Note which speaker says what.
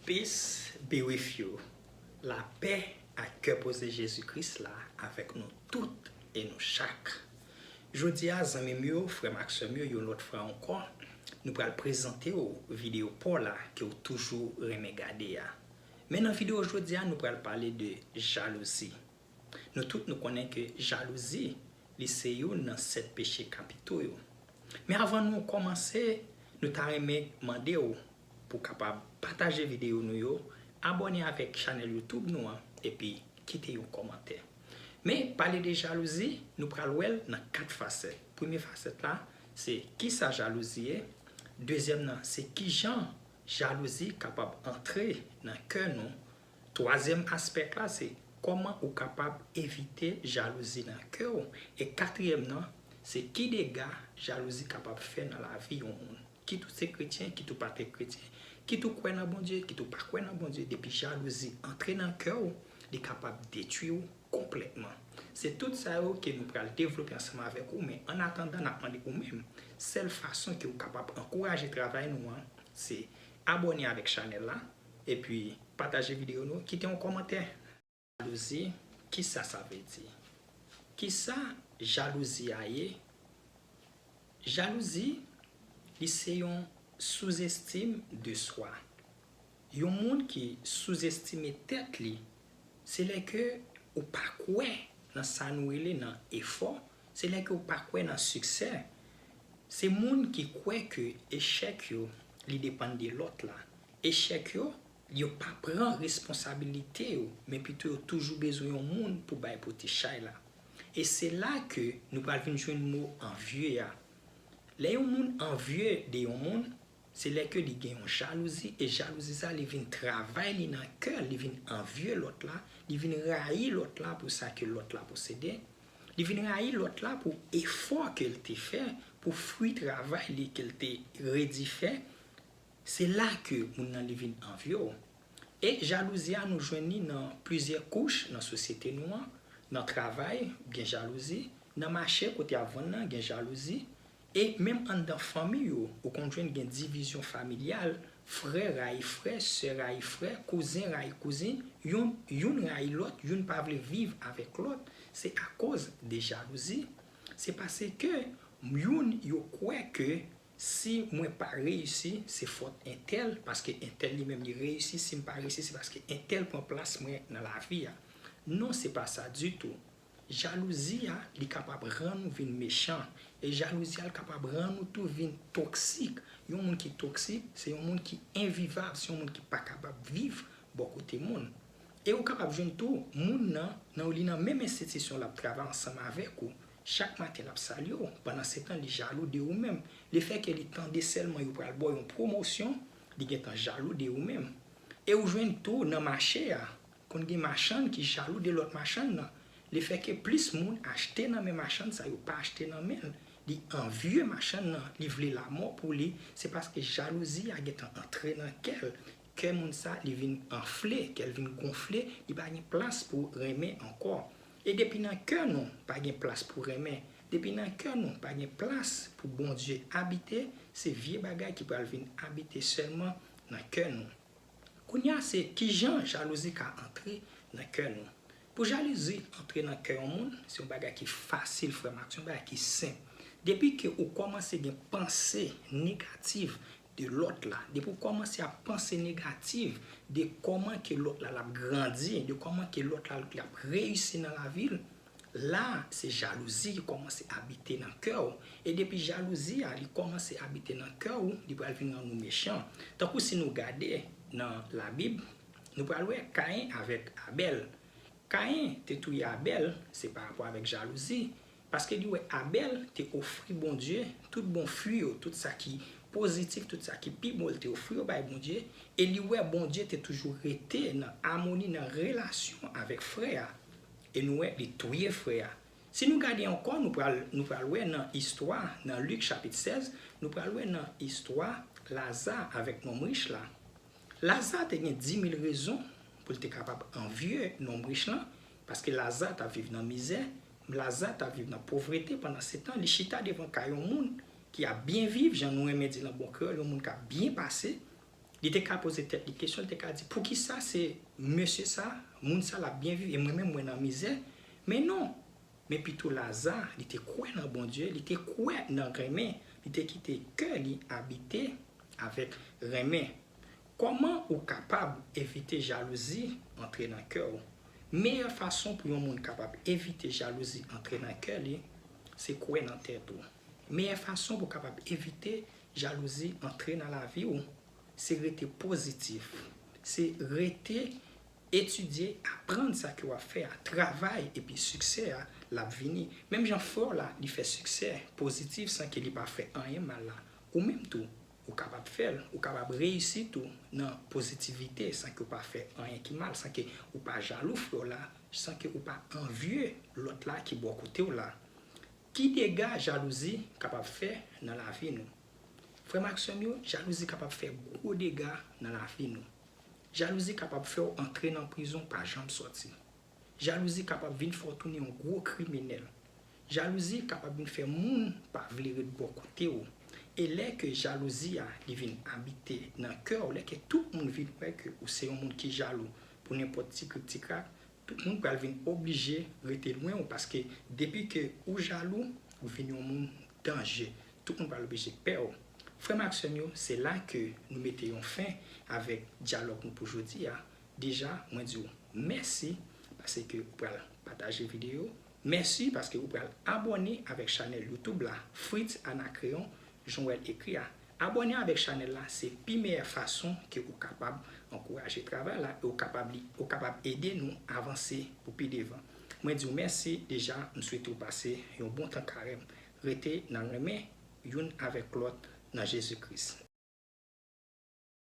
Speaker 1: Peace be with you La pè ak kè poze Jezi Kris la avèk nou tout e nou chak. Jodi a zanmi m yo, frè m ak sè m yo yon lòt fwa ankò, nou pral prezante w videyo pa w la ke w toujou renmen gade a. Men nan videyo jodi a nou pral pale de jalouzi. Nou tout nou konnen ke jalouzi li se youn nan 7 peche kapito yo. Men avan nou kòmanse, nou ta renmen mande w pou kapab pataje videyo nou yo, abòne avèk chanèl YouTube nou an epi kite yon kòmantè. Men pale de jalouzi, nou pral wè l nan 4 fasèt. Premye fasèt la se kisa jalouzi ye, dezyèm nan se kijan jalouzi kapab antre nan kè nou, Twazyèm aspect la se kòman ou kapab evite jalouzi nan kè w e katriyèm nan se ki dega jalouzi kapab fè nan lavi yon moun kit ou se kretyen kit ou pa te kretyen kit ou kwè nan Bondye kit ou pa kwè nan Bondye depi jalouzi antre nan kè w li kapab detwi w konplètman se tout sa yo ke nou pral devlope ansanm avèk ou men an atandan nap mande ou menm sèl fason ke ou kapab ankouraje travay nou an se abòne avèk chanèl la. Epi pataje video nou kite yon komantè. Jalouzi kisa sa vle di. Kisa jalouzi a ye jalouzi li se yon souzestim de swa yon moun ki souzestime tèt li se lè ke ou pa kwè nan sa nou rele nan efò se lè ke ou pa kwè nan siksè se moun ki kwè ke echèk yo li depann de lòt la Echèk yo, yo pa pran responsabilite yo men pito yo toujou bezwen yon moun pou bay pote chay la. E se la ke nou pral vin jwenn mo anvye a. Lè yon moun anvye de yon moun, se lè ke li gen yon jalouzi e jalouzi sa li vin travay li nan kè l, li vin anvye lòt la, li vin rayi lòt la pou sa ke lòt la posede, li vin rayi lòt la pou efò ke l te fè, pou fwi travay li ke l te redi fè. Se la ke moun nan li vin anvi w. E jalouzi a nou jwenn li nan plizyè kouch nan sosyete nou an, nan travay gen jalouzi, nan mache kote y ap vann nan gen jalouzi, e menm anndan fanmi yo ou konn jwenn gen divizyon familyal, frè rayi frè, sè rayi frè, kouzen rayi kouzen, yon youn rayi lòt, youn pa vle viv avèk lòt, se akoz de jalouzi. Se pase ke youn yo kwè ke Si mwen pa reyisi, se fòt entèl, paske entèl li menm li reyisi, si m pa reyisi se paske entèl pran plas mwen nan lavi a. Non se pa sa ditou. Jalouzi a, li kapab rann ou vin mechan, e jalouzi a l kapab rann ou tou vin toksik. Yon moun ki toksik, se yon moun ki envivab, se yon moun ki pa kapab viv bò kote moun. E ou kapab jwenn tou moun nan, nan li nan menm enstitisyon l ap travay ansanm avèk ou, Chak maten l ap salye w, pandansetan li jalou de ou menm. Lefèke li tande sèlman yo pral ba w yon pwomosyon, li gentan jalou de ou menm. E ou jwenn tou nan mache a, konn gen machann ki jalou de lòt machann nan. Lefèke plis moun achte nan men machann sa yo pa achte nan men l, li anvye machann nan, li vle lamò pou li, se paske jalouzi a gentan antre nan kè l, kè moun sa li vin anfle, kè l vin gonfle, li pa gen plas pou renmen ankò. E depi nan kè nou pa gen plas pou renmen, depi nan kè nou pa gen plas pou Bondye abite, se vye bagay ki pral vin abite sèlman nan kè nou. Kounye a se kijan jalouzi ka antre nan kè nou. Pou jalouzi antre nan kè yon moun, se yon bagay ki fasil frè m ak sè m, se yon bagay ki senp. Depi ke ou kòmanse gen panse negativ de lòt la, depi w kòmanse ap panse negativ de kòman ke lòt la lap grandi, de kòman ke lòt la lap reyisi nan lavi l, la se jalouzi ki kòmanse abite nan kè w, e depi jalouzi a li kòmanse abite nan kè w, li pral vin rann ou mechan. Tankou si nou gade nan labib, nou pral wè Kayen avèk Abèl. Kayen te touye Abèl, se parapò avèk jalouzi, Paske li wè Abèl te ofri Bondye tout bon fwi yo, tout sa ki pozitif, tout sa ki pi bon l te ofri yo bay Bondye, e li wè Bondye te toujou rete nan amoni, nan relasyon avèk frè a, e nou wè li touye frè a. Si nou gade ankò, nou pral, nou pral wè nan istwa, nan Lik chapit 16, nou pral wè nan istwa Laza avèk nonm rich la. Laza te gen dimil rezon pou l te kapab anvye nonm rich lan, Paske Laza t ap viv nan mizè, m Laza t ap viv nan povrete pandansetan li chita devan kay yon moun ki ap byen viv, jan nou renmen di nan bon kreyòl yon moun k ap byen pase. Li te ka poze tèt li kesyon, li te ka di, Poukisa se mesye sa a, moun sa a l ap byen viv e mwen menm mwen nan mizè? Men non! Men pito Laza, li te kwè nan Bondye, li te kwè nan renmen, li te kite kè li abite avèk renmen. Kòman ou kapab evite jalouzi antre nan kè ou? Meyè fason pou yon moun kapab evite jalouzi antre nan kè li, se kwè nan tèt ou. Meyè fason pou kapab evite jalouzi antre nan lavi ou, se rete pozitif, se rete etidye, aprann sa ke w ap fè a, travay epi siksè a l ap vini. Menm jan frè w la li fè siksè pozitif san ke li pa fè anyen mal la, ou menm tou Ou kapab fè l. Ou kapab reyisi tou nan pozitivite san ke ou pa fè anyen ki mal, san ke ou pa jalou frè w la, san ke ou pa anvye lòt la ki bò kote w la. Ki dega jalouzi kapab fè nan lavi nou? Frè m ak sè m yo, jalouzi kapab fè gwo dega nan lavi nou. Jalouzi kapab fè w antre nan prizon pa janm sòti. Jalouzi kapab vin fè w tounen yon gwo kriminèl. Jalouzi kapab vin fè moun pa vle ret bò kote w. E lè ke jalouzi a li vin abite nan kè w, lè ke tout moun vin wè ke ou se yon moun ki jalou pou nenpòt ti krik ti krak, tout moun pral vin oblije rete lwen w paske depi ke ou jalou, ou vin yon moun danje. Tout moun pral oblije pè w. Frè m ak sè m yo, se la ke nou mete yon fen avèk dyalòg nou pou jodi a. Deja mwen di w mèsi pase ke ou pral pataje video, mèsi paske ou pral abòne avèk chanèl youtube la Fritz Anacreon jan w wè l ekri a abòne avèk chanèl la se pi meyè fason ke ou kapab ankouraje travay la e ou kapab li ou kapab ede nou avanse pou pi devan mwen di w mèsi deja m swete w pase yon bon tan karèm rete nan renmen youn avèk lòt nan Jezi Kris.